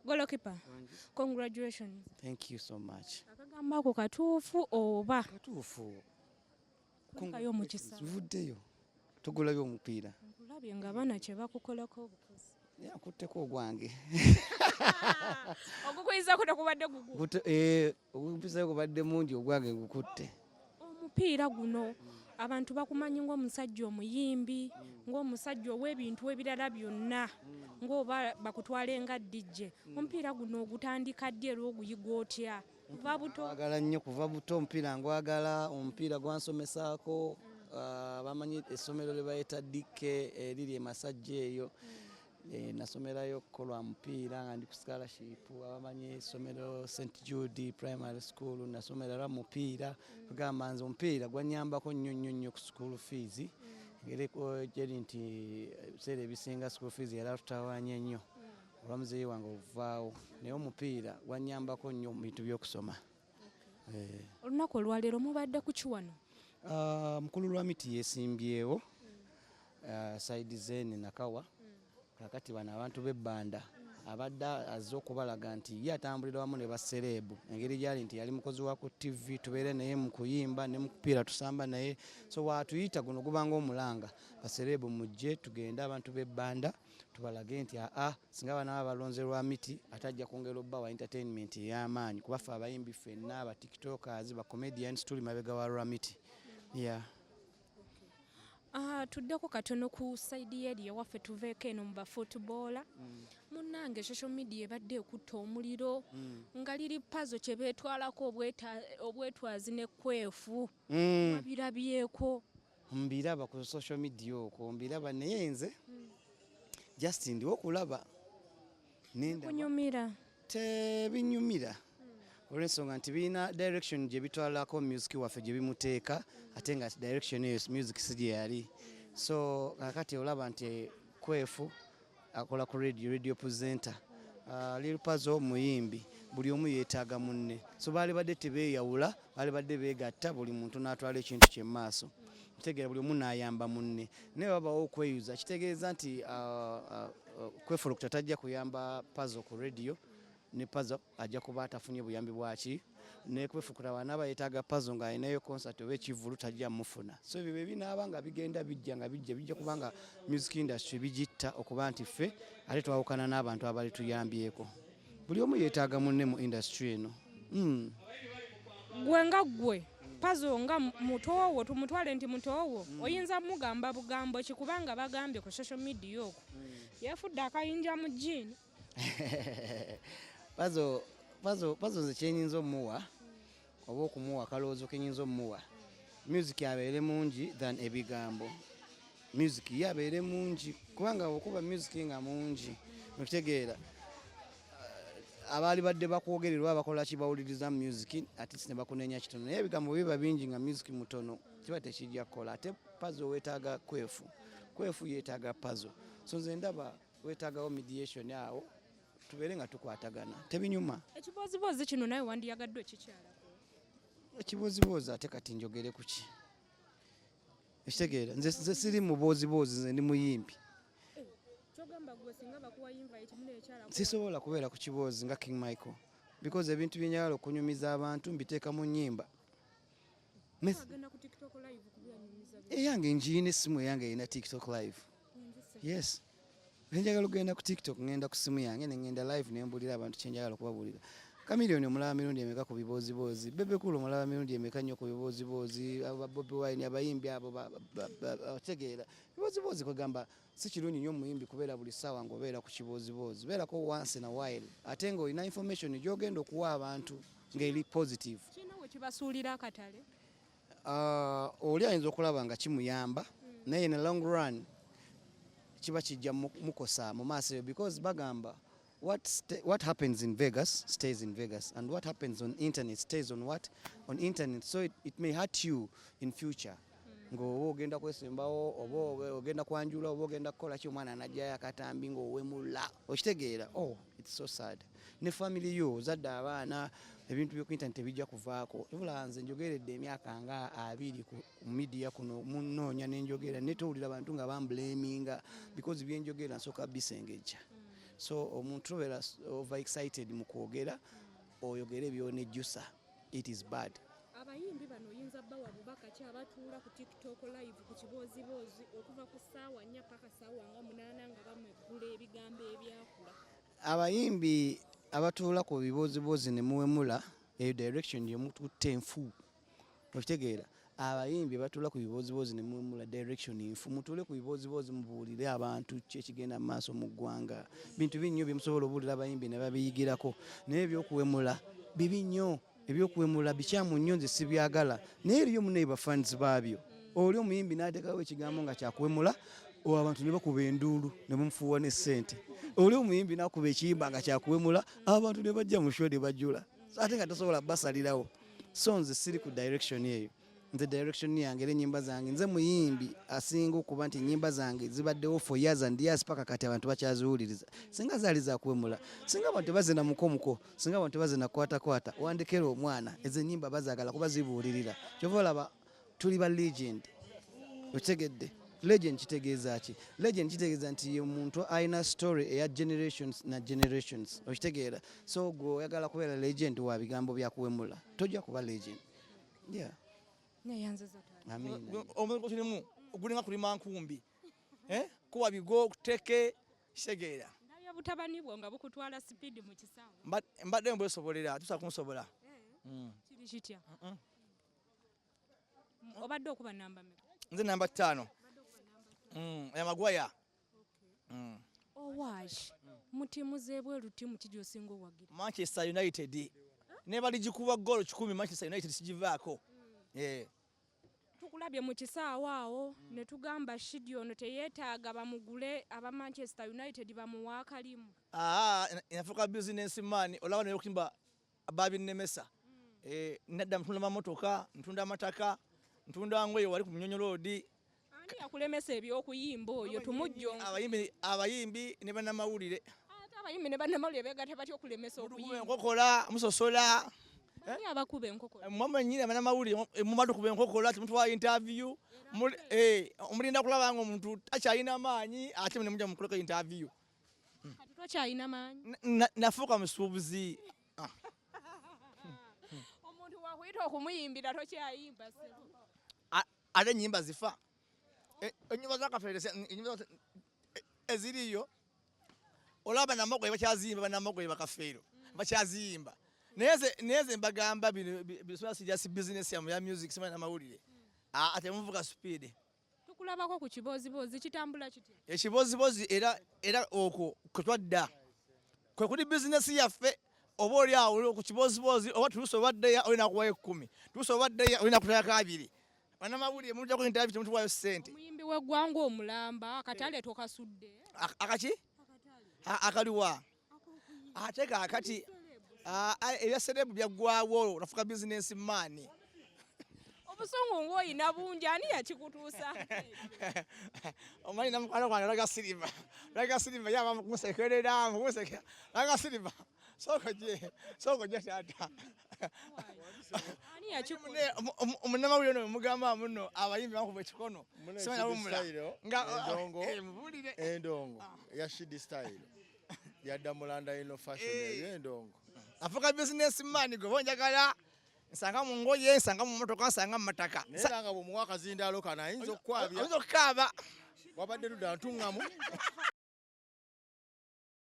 Golokipa, congratulations. Thank you so much. Akagamba ako katuufu oba? Katuufu. Kulikayo omukisa. Vuddeyo. Tugulayo omupiira. Nkulabye nga bana kye bakukolako obukozi. Yakutteko ogwange. Ogukuyiza kuno kubadde gugu. Eh, Ogumpiseewo gubadde mungi ogwange ngukutte. Omupiira guno abantu bakumanyi ng'omusajja omuyimbi ng'omusajja ow'ebintu ebirala byonna ng'oba bakutwale nga DJ. Omupiira guno ogutandika ddi era oguyiga otya? Kuva buto? Ngwagala nnyo kuva buto, omupiira ngwagala, omupiira gwansomesaako ah, bamanyi essomero lye bayita DK eriri e Masajja eyo. Eh, nasomerayo ko lwa mupiira nga ndi ku scholarship abamanyi esomero st jude primary school nasomera lwa mupiira kugamba nze omupiira gwanyambako nnyo nnyo nnyo ku school fees ngeri gyeri nti ebiseera ebisinga school fees yali atutawanya nnyo olwa muzeeyi wange okuvaawo naye omupiira gwanyambako nnyo mu bintu by'okusoma Eh. Olunaku olwaleero mubadde kuki wano? Ah, mukulu Lwamiti yesimbyewo ah, saidi zeni Nakawa kakati bano abantu b'ebbanda abadde azze okubalaga nti ye atambulira wamu ne basereebu engeri gyali nti yali mukozi wa ku ttivi tubeere naye mu kuyimba ne mukupiira tusamba naye so watuyita guno gubanga omulanga basereebu mujje tugende abantu b'ebbanda tubalage nti aa singa abaana baba balonze lwa miti ate ajja kwongera obba wa entertainment ey'amaanyi kuba ffe abayimbi ffenna aba tiktokers ba comedians tuli mabega wa lwa miti yeah. Uh, tuddeko katono ku saidi yeri ewaffe tuveeko eno mu bafootboola mm. munnange social media ebadde ekutta omuliro mm. nga liri pazo kye beetwalako obwetwazi ne kwefu mm. abirabyeko Mbiraba ku social media okwo mbiraba naye nze just ndiwo kulaba nendabikunyumira tebinyumira olwensonga nti birina direction gye bitwalako music waffe gye bimuteeka ate nga direction eyo music si gye yali so kakati olaba nti kwefu akola ku radio radio presenter uh, lil pazo muyimbi buli omu yeetaaga munne so baali badde tebeeyawula baali badde beegatta buli muntu n'atwala ekintu kye mu maaso kitegeera buli omu n'ayamba munne naye babawo okweyuza kitegeeza nti uh, uh, uh, kwefulukuta tajja kuyamba pazo ku radio ne pazo ajja kuba atafunye buyambi bwaki nekwefukula wanaba yetaga pazo nga alinayo concert oba ekivulu tajja mufuna so ebyo bebinaaba nga bigenda bijja nga bijja bijja kubanga music industry bigitta okuba nti ffe ate twawukana n'abantu abali tuyambyeko buli omu yetaaga munne mu industry eno hmm. gwe nga gwe pazo nga mutoowo tumutwale nti mutoowo hmm. oyinza mugamba bugambo kikubanga bagambye ku social media oku hmm. yefudde akayinja mu jiini pazo pazo pazo nze kyenyinza omuwa oba okumuwa kalowoozo kenyinza omuwa music abeere mungi than ebigambo music ye abeere mungi kubanga okuba music nga mungi okitegeera uh, abaali badde bakwogererwa bakola kibawuliriza music atisi nebakunenya kitono naye ebigambo biba bingi nga music mutono kiba tekijja kukola ate pazo wetaaga kwefu kwefu yetaaga pazo so nze ndaba wetagawo mediation awo tubeere nga tukwatagana tebinyuma ekibooziboozi kino naye wandiyagadde okikyalako ekibooziboozi ate kati njogere ku ki ekitegeera nze siri mubooziboozi nze ndi muyimbi sisobola kubeera ku kiboozi nga king michael because ebintu byenyagala okunyumiza abantu mbiteeka mu nyimba eyange njiina essimu eyange erina tiktok live yes nenjagala okugenda ku tiktok ngenda ku simu yange nengenda live nembulira abantu kyenjagala okubabuulira kamiliyoni omulaba mirundi emeka ku bibooziboozi bebekulu omulaba mirundi emeka nnyo ku bibooziboozi bobi wine abayimbi abo bategeera bibooziboozi kwegamba si kirungi nnyo omuyimbi kubeera buli ssaawa nga obeera ku kibooziboozi beerako once na while ate nga olina information gyogenda okuwa abantu ngaeri positive kino wekibasuulira akatale Uh, oli ayinza okulaba nga kimuyamba naye in a long run kiba kijja mukosa mu maaso eyo because bagamba what, what happens in Vegas stays in Vegas and what happens on internet stays on what on internet so it, it may hurt you in future hmm. ng'oba ogenda kwesembawo oba ogenda kwanjula oba ogenda kukola ki omwana anajjayo akatambi ng'owemula okitegeera oh it's so sad ne family yo ozadde abaana ebintu byo kwinta tebijja kuvaako tubula nze njogeredde emyaka nga abiri ku media kuno munoonya nenjogera ne towulira bantu nga bamblaminga because byenjogera nsooka bisengejja so omuntu tobera over excited mu kwogera oyogere byonejjusa it is bad abayimbi bano oyinza bawa bubaka ki abatuula ku tiktok live ku kibooziboozi okuva ku ssaawa nnya paka ssaawa nga munaana nga bamweggula ebigambo ebyakula Abayimbi abatuula ku bibooziboozi ne muwemula eyo direction gye mututte nfu okitegeera abayimbi batula ku bibooziboozi ne muwemula direction nfu mutuule ku bibooziboozi mubuulire abantu ki ekigenda mu maaso mu ggwanga bintu binnyo bye musobola obuulira abayimbi ne babiyigirako naye ebyokuwemula bibi nnyo Ebyokuwemula bikyamu nnyo nze sibyagala naye eriyo munaye bafans baabyo oli omuyimbi n'ateekawo ekigambo nga kyakuwemula abantu ne bakuba enduulu ne bamufuuwa ne ssente oli omuyimbi n'akuba ekiyimba nga kyakuwemula abantu ne bajja mu sho ne bajula ate nga tosobola basalirawo so nze siri ku direction eyo nze direction yange era enyimba zange nze muyimbi asinga okuba nti enyimba zange zibaddewo for years and years paka kati abantu bakyaziwuliriza singa zaali zakuwemula singa abantu tebazina mukomuko singa abantu tebazina kwatakwata wandekera omwana ezo enyimba bazagala kuba zibuulirira kyova olaba tuli ba legend okitegedde legend kitegeeza ki legend kitegeeza nti ye muntu alina story eya generations na generations okitegeera so gwe oyagala kubeera legend wa bigambo byakuwemula tojja kuba legend yeah neyanziza taata amina omulimu tulimu gulinga kulima nkumbi eh kuwa bigo kuteke segera ndabya butabani bwo nga bukutwala speed mu kisawo mbadde mbwe sobolera tusa kunsobola eh mm. kiri kitya mm -mm. obadde okuba namba me nze namba 5 mm ya magwaya owash oh, mm. mu tiimu z'ebweru tiimu ki gy'osinga owagira manchester united ne baligikuba ggoolo kikumi manchester united sigivaako mm. eh. tukulabye mu kisaawo awo mm. ne tugamba shidi ono teyeetaaga bamugule aba manchester united bamuwa akalimu nafuuka bizinesi maani olaba naye okimba babinnemesa eh, nedda ntunda mamotoka ntunda amataka ntunda ngoye wali ku munyonyo loodi yakulemesa ebyokuyimba oyo tumujjo abayimbi ne banamawulire abayimbi ne banamawulire begata batya okulemesa okuyimba enkokola musosola abakuba enkokola eh, mama nyine abana mawuli eh, mumadu kuba enkokola timutwa interview eh omulinda kulaba ngo muntu akyalina amaanyi ate ne muja mukuleka interview nafuuka musuubuzi ah. omuntu wakuyita okumuyimbira tokyayimba ate enyimba zifa e, enyimba zakafere e, eziriyo olaba banamogoye bakyaziyimba banamogoye bakafeero mm. bakyaziyimba naye ze mbagamba bino sijasi bizinesi yamu ya music simanyi namawulire mm. ah, ate muvuga supiidi Tukulabako ku kibooziboozi kitambula kitya? Ekibooziboozi era era okwo kwe twadda kwe kuli bizinesi yaffe oba oli awo ku kibooziboozi oba tulusa obaddeya olina kuwayo ekkumi tulusa obaddeya olina kutayako abiri banamawulire mujako intavi temutuwayo sente omuyimbi w'eggwanga omulamba akatale tokasudde akaki akaliwa ate kakati ah, ah, ebya serebu byaggwawo nafuka bizinesi maani obusungu ng'oyina bungi ani yakikutuusa omanyi namukwano gwange laga siriva laga siriva yaba kumusekerera kumusekera laga siriva sooka gye sooka gye taata munamawulire no mugamba muno abayimbi bakuba ekikono endongo ya shidi style yadda mulanda ino fashion eh. eyo endongo afuka business man gwe bonjagala nsanga mu ngoye nsanga mu motoka nsanga mu mataka naye nga bwomuwa akazindaalo kano ayinza okukwabya ayinza okukaaba wabadde ludda ntuŋŋamu